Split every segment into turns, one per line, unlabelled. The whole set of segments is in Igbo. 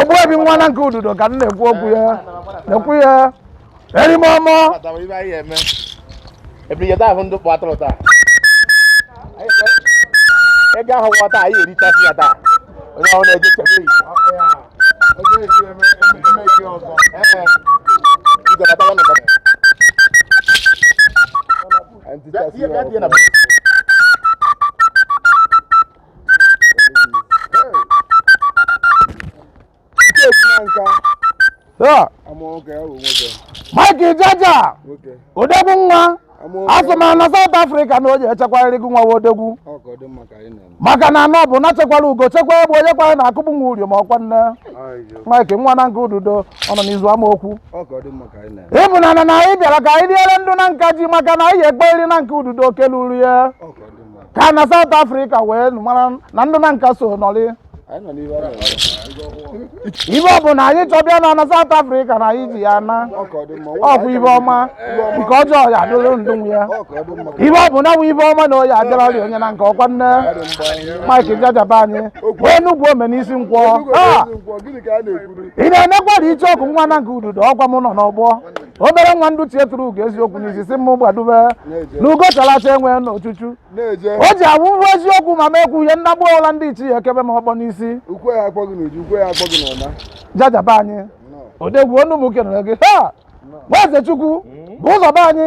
ogbuebi nwa na nke ududo ka m na-ekwu okwu ya na-ekwu ya erime
ọmọ ego ahụ nwa taa anyị erichasị ya taa onye ahụ na-eje chebe yi
Mike Jaja odegwu nwa asị ma na South Africa na ọ ya-echekwarịrị gị nwa odegwu maka na anọ bụ na chekwara ugo chekwa egbe onye kwara na akụkpụ nwa uri ma ọkwa nne Mike nwa na nke ududo ọ nọ n'izu amaokwu ịbụ na anyị bịara ka anyị riere ndụ na nka ji maka na anyị ekperi na nke ududo keluru ya ka na South Africa wee mara na ndụ na nka so nọrị ihe ọ bụna anyị chọbịa na na South Africa na anyị ji ya na ọkwa ihe ọma nke ọjọọ ya adịrị ndụ ya ihe ọ bụna wụ ihe ọma na ọ ya-adịrị ọrịa onye na nke ọkwa nne Mike jajaba anyị wee nugwu ome n'isi nkwọ ị na-enekwara iche ọkụ nwa na nke ududo ọkwa m nọ n'ọgbọ obere nwa ndị ichie tụrụ ugo eziokwu n'isi sị mụ gbadube na ugo chala acha enwe n'ochuchu o ji awụhụ eziokwu ma m ekwu ihe nnagbu ọla ndị ichie ekebe m okpu n'isi jajaba anyị odegwu ọnụ m kenere gị ha nwaeze chukwu bụ ụzọ be anyị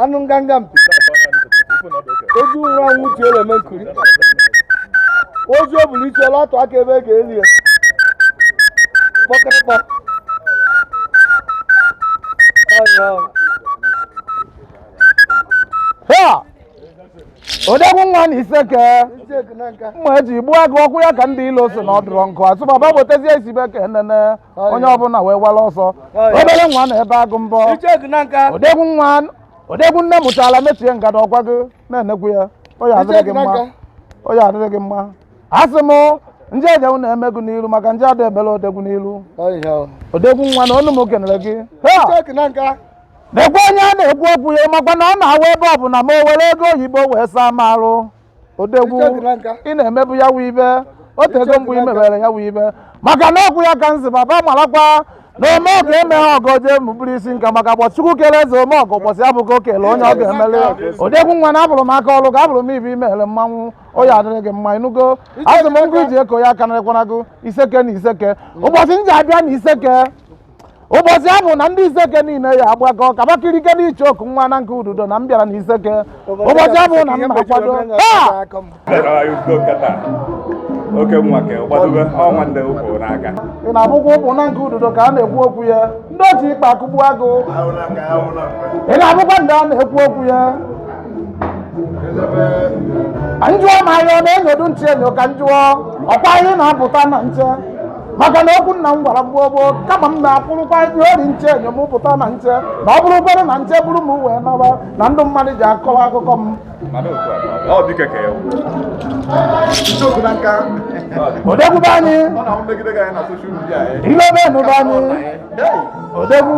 anụ nganga mpi ozu nwụrụ anwụ uche eleme nkuri ozu o bulu isi ọ la-atụ aka ebe a ga-eli ya kpọkịrịkpọ ha odegwu nwa na iseke mma e ji gbuo agụ okwu ya ka ndị ilo so nọdụrụ nkụ asụbaba botezie isibe ka enene onye ọbụla wee wala ọsọ obere nwa na ebe agụ mbọ odegwu nne mụchala mechie ngada ọkwa gị na-enekwu ya ọ ya-adịrị gị mma asị m ndị ejewu na-emegụ n'iru maka ndị ada ebere odegwu n'iru odegwu nwa na ọnụ m kenere gị na-ekwe onye a na-ekwu okwu ya makwa na ọ na-awa ebe ọ bụna ma o were ego oyibo wee saa m arụ odegwu ị na-emebu ya wụ ibe o tego mgbe i mebere ya wụ ibe maka na okwu ya ka nzi baba marakwa na ome ọgọ emeghị ọgọ jee mụbụrụ isi nka maka mgbe Chukwu kere eze ome ọgọ mbọsị ahụ ka o kele onye ọ ga-emele odegwu nwa na ahụrụ m aka ọlụ ka ahụrụ m ihe i mere mmanwụ ọ ya-adịrị gị mma ịnụgo azụ m ngụ e ji eko ya aka na ekwanago iseke na iseke ụbọsị m ji abịa na iseke ụbọchị ahụ na ndị iseke niile ya agbakọ kabakirike n'iche oku nwa na nke ududo na m bịara na iseke ụbọchị ahụ na m na-akwado taa oke nwa ka gbadobe ọnwa ndị ụkwụ n'aka ị na-abụkwa ụkwụ na nke ududo ka a na-ekwu okwu ya ndị ji ikpa akụgbu agụ ị na-abụkwa ndị a na-ekwu okwu ya njụọ ma ya ọ na-enyodu nche enyo ka njụọ ọkwa ihe na-apụta na nche maka na okwu nna m gwara m gboo gboo kama m na-akwụrụkwa ihe ori nche enyo m pụta na nche na ọ bụrụkwere na nche bụrụ m wee naba na ndụ mmadụ ji akọwa akụkọ m odogwu be anyị ilebe nụ be anyị odogwu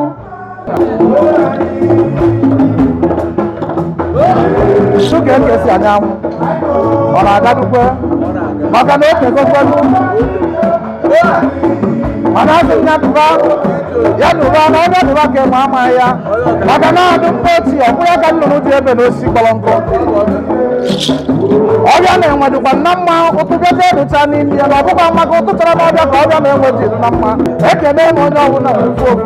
Sọ ka eke si anya anwụ ọ na-agadukwe maka na okegokwelu mana asị m ya dụba ya dụba na onye dụba ka ịma ama ya maka na adụ mkpa oti ọ bụ ya ka nnụnụ ji ebe na osisi kpọrọ nkụ ọbịa na-enwe dịkwa na mma ụtụbịaja dụcha n'ime ya na ọ bụkwa maka ụtụtara na ọbịa ka ọbịa na-enwe dị na mma ekene m onye ọbụla ofu ofu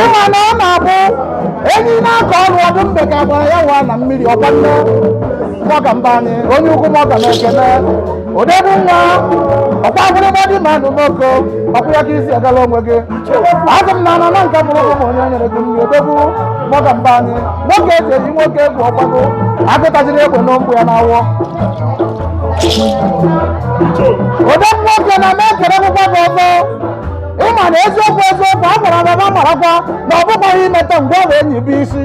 ịma na ọ na-abụ enyi na-akọ ọrụ ọdụ mbe ka gbara ya wa na mmiri ọkwa nne nwoke mba anyị onye ukwu mọga na ekene odogwu nwa ọkwa agwụrịmadị ma nụ n'oko ọkwa ya ka i si agala onwe gị azụ m na anọ na nke bụrụ ụmụ onye nyere gị nri odogwu nwoke mba anyị nwoke e ji eyi nwoke egwu ọgbago agụ tajiri egbe n'ụkwụ ya n'awọ odogwu nwoke na m ekelekwukwa gị ọzọ ịma na eziokwu eziokwu a gwara gị agwa marakwa na ọ bụkwaghị imeta mgbe ọ bụ enyi bụ isi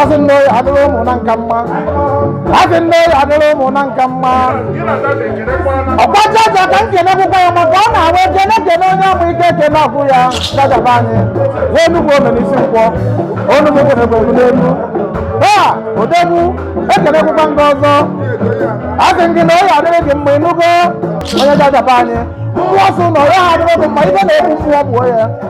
asị na ọ ya adịrị ụmụnna nka mma asị na ọ ya adịrị ụmụnna nka mma ọkwa jaja ka m kenekwukwa ya maka ọ na-awa ekene kene onye ọmụ ike ekene agwụ ya jaja be anyị wee nugwu ome n'isi nkwọ onugbu kwenekwe m n'elu a odogwu ekenekwukwa m gị ọzọ asị m gị na ọ ya adịrị gị mma ịnụgo onye jaja be anyị mmụọ sị na ọ ya adịrị gị mma ibe na-egbu mmụọ gbuo ya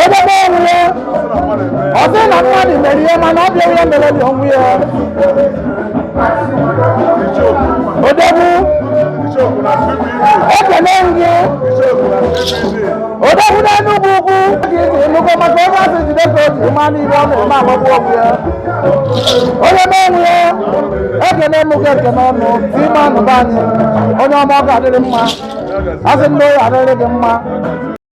onye na-enwe ya ọ sị na mmadụ mere ihe mana ọ bịa ihe mere dị ọnwụ ya odogwu ekele gị odogwu n'enugwu ukwu nnukwu maka onye asị jide ka o ji ma n'ihe ọ na-eme agbagbu ọgwụ ya onye na-enwe ya ekene m gị ekene ọnụ ime anụba anyị onye ọma ọ ga-adịrị mma asị na ọ ya-adịrị gị mma